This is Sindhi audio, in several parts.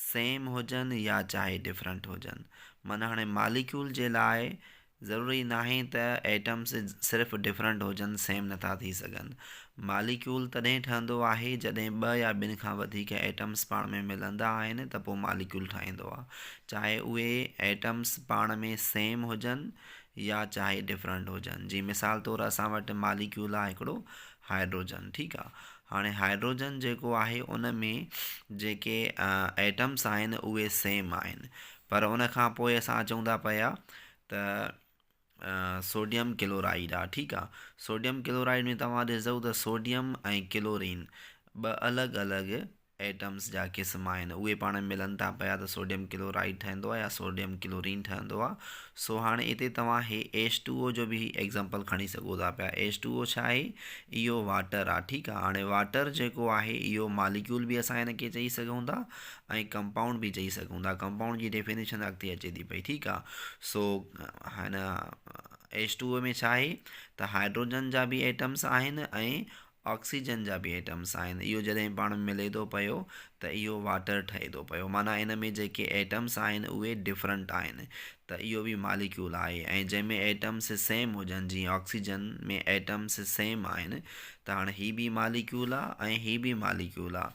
سيم هجن يا چاهي ڊفرنٽ هجن معنيٰ هاڻي ماليڪيول جي لاء ضروري ناهي ته ايٽمس صرف ڊفرنٽ هجن سيم نٿا ٿي سگهن ماليڪيول تڏهن ٺهندو آهي جڏهن ٻه يا ٻن کان وڌيڪ ايٽمس پاڻ ۾ ملندا آهن ته پوء ماليڪيول ٺهندو آهي چاهي اهي ايٽمس پاڻ ۾ سيم هجن يا چاهي ڊفرنٽ هجن جي مثال طور اسان وٽ ماليڪيول آهي هڪڙو هائڊروجن ٺيڪ آ هاڻي هائڊروجن جيڪو آهي ان ۾ جيڪي ايٽمس آهن اهي سيم آهن پر ان کان پوء اسان اچون ٿا پيا ته سوڊيم ڪلورائيڊ آ ٺيڪ آ سوڊيم ڪلورائيڊ ۾ توهان ڏسدو ته سوڊيم ۽ ڪلورين ٻه الڳ الڳ ايٽمز جا قسم آهن اهي پاڻ ۾ ملن ٿا پيا ته سوڊيم ڪلو رائيڊ ٺهندو آهي يا سوڊيم ڪلو رين ٺهندو آهي سو هاڻي هتي توهان هي ايچ ٽو او جو به هي ايگزامپل کڻي سگهو ٿا پيا ايچ ٽو او ڇا آهي اهو واٽر آهي ٺيڪ آهي هاڻي واٽر جيڪو آهي اهو ماليڪيول به اسان هن کي چئي سگهون ٿا ۽ ڪمپائونڊ به چئي سگهون ٿا ڪمپائونڊ جي ڊيفينيشن اڳتي اچي ٿي پئي ٺيڪ آهي سو هن ايچ ٽو او ۾ ڇا آهي ته هائيڊروجن جا به ايٽمز آهن ۽ آڪسيجن جا به ايٽمس آهن اهو جڏهن پاڻ ۾ ملي ٿو پيو ته اهو واٽر ٺهي ٿو پيو معنيٰ ان ۾ جيڪي ايٽمس آهن اهي ڊفرنٽ آهن ته اهو به ماليڪيول آهي ۽ جنهن ۾ ايٽمس سيم هجن جيئن آڪسيجن ۾ ايٽمس سيم آهن ته هاڻ هي به ماليڪيول آ ۽ هي به ماليڪيول آ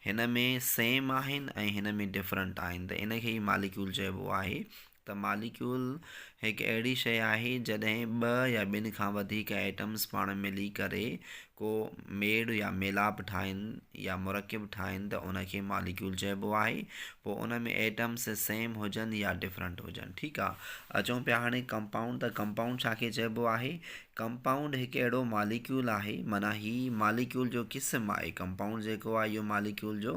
هن ۾ سيم آهن ۽ هن ۾ ڊفرنٽ آهن ته ان کي ئي ماليڪيول چئبو آهي ته ماليڪيول هڪ اهڙي شيء آهي جڏهن ٻه يا ٻن کان وڌيڪ ايٽمز پاڻ ملي ڪري ڪو ميڙ يا ميلاپ ٺاهن يا مرڪب ٺاهن ته ان کي ماليڪيول چئبو آهي پوء ان ۾ ايٽمز سيم هجن يا ڊفرنٽ هجن ٺيڪ آ اچون پيا هاڻي ڪمپائونڊ ته ڪمپائونڊ ڇا کي چئبو آهي ڪمپائونڊ هڪ اهڙو ماليڪيول آهي معنيٰ هي ماليڪيول جو قسم آهي ڪمپائونڊ جيڪو آهي اهو ماليڪيول جو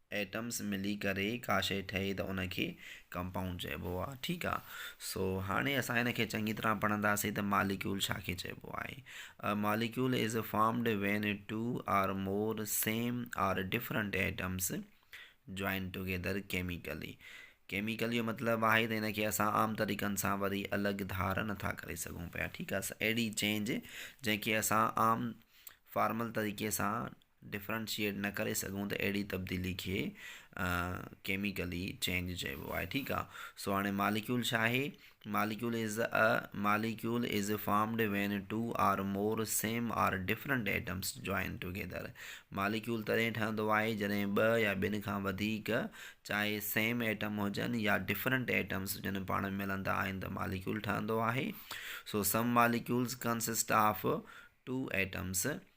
ايٽمس ملي ڪري ڪا شيء ٺهي ته ان کي ڪمپائونڊ چئبو آهي ٺيڪ آهي سو هاڻي اسان ان کي چڱي طرح پڙهنداسين ته ماليڪيول ڇا کي چئبو آهي a molecule is formed when two or more same or different atoms join together chemically chemical جو مطلب آهي ته ان کي اسان عام طريقن سان وري الڳ ڌار نٿا ڪري سگهون پيا ٺيڪ آهي اهڙي چينج جنهن کي اسان عام فارمل طريقي سان ڊفرنشيئيٽ نه ڪري سگهون ته اهڙي تبديلي کي ڪيميڪلي چينج چئبو آهي ٺيڪ آهي سو هاڻي ماليڪيول ڇا آهي molecule is a molecule is formed when two or more same or different atoms join together molecule تڏهن ٺهندو آهي جڏهن ٻه يا ٻن کان وڌيڪ چاهي سيم ايٽم هجن يا ڊفرنٽ ايٽمس جن پاڻ ۾ ملندا آهن ته ماليڪيول ٺهندو آهي so some molecules consist of two atoms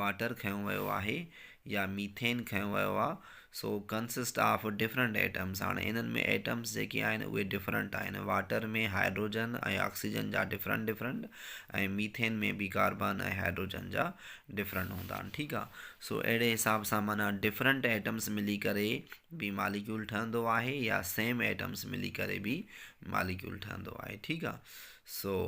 water کنيو ويو آهي يا ميٿين کنيو ويو آهي so consist of different atoms هاڻي انهن ۾ ايٽمس جيڪي آهن اهي ڊفرنٽ آهن واٽر ۾ هائڊروجن ۽ آڪسيجن جا ڊفرنٽ ڊفرنٽ ۽ ميٿين ۾ به ڪاربان ۽ هائڊروجن جا ڊفرنٽ هوندا آهن ٺيڪ آ سو اهڙي حساب سان معنی ڊفرنٽ ايٽمس ملي ڪري به ماليڪيول ٺهندو آهي يا سيم ايٽمس ملي ڪري به ماليڪيول ٺهندو آهي ٺيڪ آ so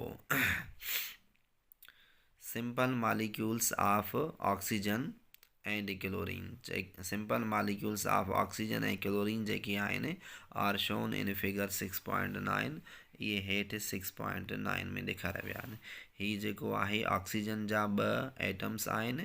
simple molecules of oxygen ۽ the chlorine simple molecules of oxygen ۽ chlorine جيڪي آهن are shown in figure six point nine اهي هيٺ سڪس پوائنٽ نائن ۾ ڏيکاريا ويا آهن هي جيڪو آهي آڪسيجن جا ٻه ايٽمس آهن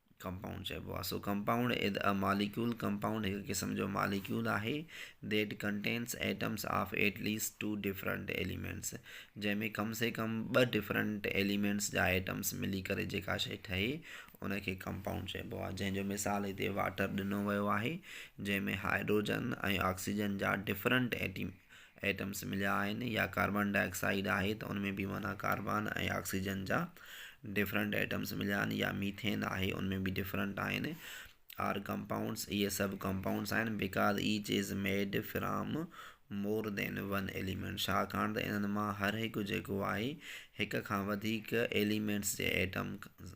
ڪمپائونڊ چئبو آهي. So compound is a molecule compound هڪ قسم جو ماليڪيول آهي that contains atoms of at least two different elements جنهن ۾ ڪم سي ڪم ٻه ڊفرنٽ ايليمينٽس جا ايٽمس ملي ڪري جيڪا شيء ٺهي ان کي ڪمپائونڊ چئبو آهي جنهن جو مثال هتي واٽر ڏنو ويو آهي جنهن ۾ هائڊروجن ۽ آڪسيجن جا ڊفرنٽ ايٽم ايٽمز مليا آهن يا ڪاربان ڊاء آڪسائيڊ آهي ته ان ۾ به معنيٰ ڪاربان ۽ آڪسيجن جا ڊفرنٽ ايٽمز مليا آهن يا ميٿين آهي ان ۾ به ڊفرنٽ آهن آر ڪمپائونڊز اهي سڀ ڪمپائونڊز آهن because each is made from more than one element ڇاڪاڻ ته انهن مان هر هڪ جيڪو آهي هڪ کان وڌيڪ ايليمينٽس جي ايٽمز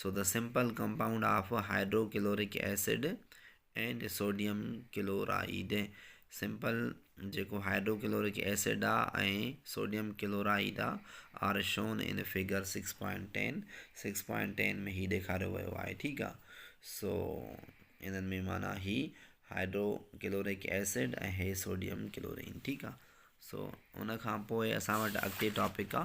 سو ته simple compound of hydrochloric acid and sodium chloride simple جيڪو هائڊرو ڪلورڪ ايسڊ آ ۽ سوڊيم ڪلورائيڊ آ are shown in figure six point ten six point ten ۾ هي ڏيکاريو ويو آهي ٺيڪ آ سو انهن ۾ معنيٰ هي هائڊرو ڪلورڪ ايسڊ ۽ هي سوڊيم ڪلورين ٺيڪ آ سو ان کان پوء اسان وٽ اڳتي ٽاپڪ آ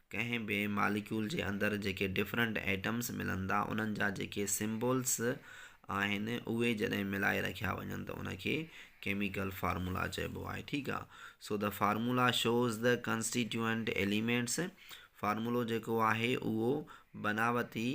ڪنهن به ماليڪيول جي اندر جيڪي ڊفرنٽ ايٽمس ملن ٿا انهن جا جيڪي سمبولس آهن اهي جڏهن ملائي رکيا وڃن ته ان کي ڪيميڪل فارمولا چئبو آهي ٺيڪ آهي so the formula shows the constituent elements فارمولو جيڪو آهي اهو بناوتي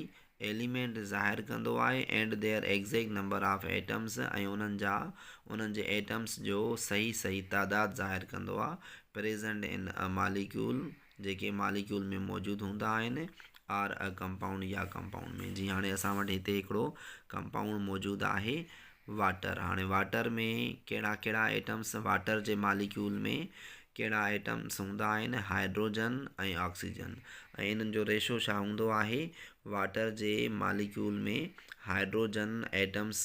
ايليمينٽ ظاهر ڪندو آهي and their exact number of atoms ۽ انهن جا انهن جي ايٽمس جو صحيح صحيح تعداد ظاهر ڪندو آهي پريزنٽ ان ا ماليڪيول جيڪي ماليڪيول ۾ موجود هوندا آهن آر اء ڪمپائونڊ يا ڪمپائونڊ ۾ جي هاڻي اسان وٽ هتي هڪڙو ڪمپائونڊ موجود آهي واٽر هاڻي واٽر ۾ ڪهڙا ڪهڙا ائٽمس واٽر جي ماليڪيول ۾ ڪهڙا ائٽمس هوندا آهن هائڊروجن ۽ آڪسيجن ۽ انهن جو ريشو ڇا هوندو آهي واٽر جي ماليڪيول ۾ هائڊروجن ائٽمس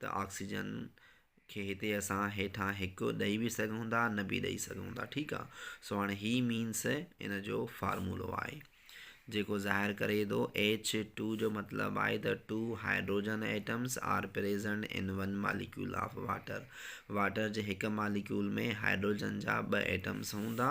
ته آڪسيجن کي هتي اسان هيٺان هڪ ڏئي به سگهون ٿا نه به ڏئي سگهون ٿا ٺيڪ آ سو هاڻي هي مينس ان جو فارمولو آهي جيڪو ظاهر ڪري ٿو ايچ ٽو جو مطلب آهي ته two hydrogen atoms are present in one molecule of water water جي هڪ ماليڪيول ۾ هائيڊروجن جا ٻه ايٽمس هوندا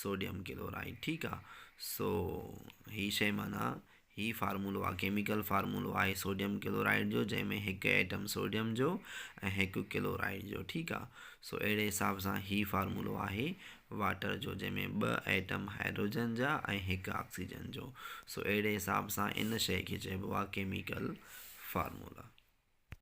سوڊيم ڪلورائيڊ ٺيڪ آ سو هي شئي معنيٰ هي فارمولو آ ڪيميڪل فارمولو آهي سوڊيم ڪلورائيڊ جو جنهن ۾ هڪ ايٽم سوڊيم جو ۽ هڪ ڪلورائيڊ جو ٺيڪ آ سو اهڙي حساب سان هي فارمولو آهي واٽر جو جنهن ۾ ٻه ايٽم هائيڊروجن جا ۽ هڪ آڪسيجن جو سو اهڙي حساب سان ان شئي کي چئبو آ ڪيميڪل فارمولا.